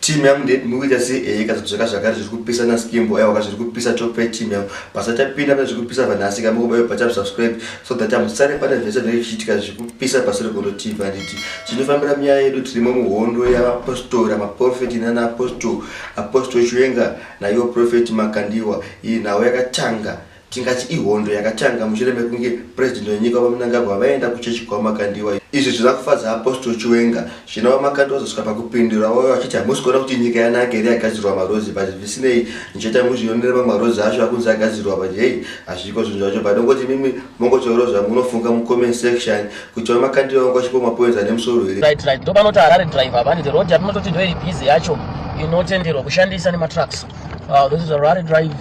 Team yangu ndeti mukuita sei ehe ka zvaka zvakare zviri kupisa na skimbo ewa ka zviri kupisa top 5 team yangu basa tapinda pane zviri kupisa vanhu asi ka mukuba yo bata subscribe so that I'm sorry pane zvese zviri kuchitika zviri kupisa basa rekuno team vaniti chinofambira mya yedu tiri mu muhondo ya apostle ra prophet na na apostle apostle chiwenga na yo prophet makandiwa iyi nawo yakatanga Tingati ihondo yakatanga mushure mekunge president wenyika VaMnangagwa vaenda kuchechi kwaVaMakandiwa. Izvi zvina kufadza Apostle Chiwenga zvino VaMakandiwa vazosvika pakupindura vave vachiti hamusi kuona kuti nyika yanaka here yagadzirwa marhodzi but zvisinei ndichaita muzvionere mamwe marhodzi acho akunzi agadzirwa but hey hazviko zvinhu zvacho but ongoti mimi mongotaurawo zvamunofunga mucomment section kuti VaMakandiwa vanga vachipo mapoints ane musoro here. Right, right. Ndopanoti Harare driver vani the road yatinototi ndoiri busy yacho inotenderwa kushandisa nematrucks. Uh, this is a Rare Drive,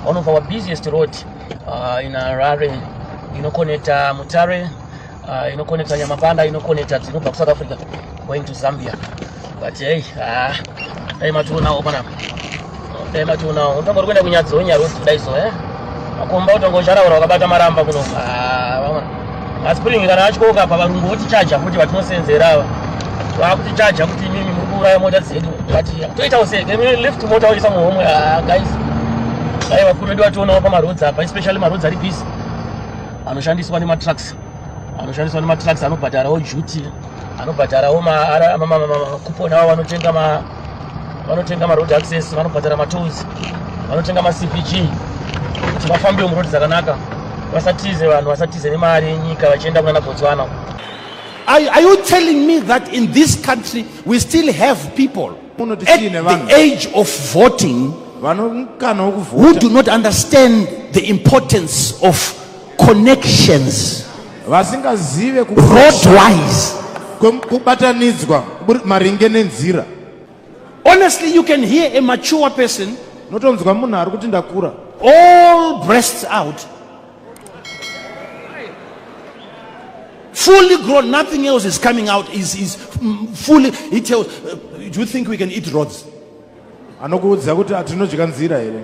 one of our busiest road uh, in Harare inokoneta Mutare, uh, inokoneta Nyamapanda, inokoneta dzinobva kuSouth Africa going to Zambia. But hey, ah, dai mationawo pana dai mationawo unotongo kuenda kunyadzi wenyarudzi kudai so eh makomba utongo ucharaura wakabata maramba kuno ah, vamwe Asi pringi kana atyoka apa varungu votichaja kuti vatinosenzera ava. Vakutichaja kuti imimi muri kuuraya mota dzedu. Vati toitawo sei? Can we lift mota oisa muhomwe? Ah guys. Dai vakuru vedu vationawo pamaroads apa especially maroads ari busy. Anoshandiswa nematrucks. Anoshandiswa nematrucks anobhadharawo duty. Anobhadharawo ma kupona avo vanotenga ma vanotenga maroad access vanobhadhara matolls vanotenga macpg kuti vafambewo muroad dzakanaka vasatize vanhu vasatize nemari yenyika vachienda kunana botswana are, are you telling me that in this country we still have people at the age of voting who do not understand the importance of connections vasingazive roadwise kubatanidzwa maringe nenzira honestly you can hear a mature person notonzwa munhu ari kuti ndakura all breasts out fully grown nothing else is coming out is, is mm, fully he tells uh, do you think we can eat rods anokuudza kuti hatinodya nzira here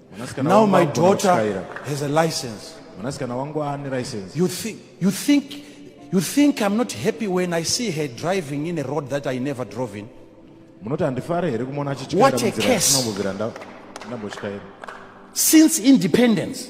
Now my daughter has a license. Mwanasikana wangu ane license. You think you think you think I'm not happy when I see her driving in a road that I never drove in? Munoti handifare here kumuona achityaira munzira ndambotyaira. Since independence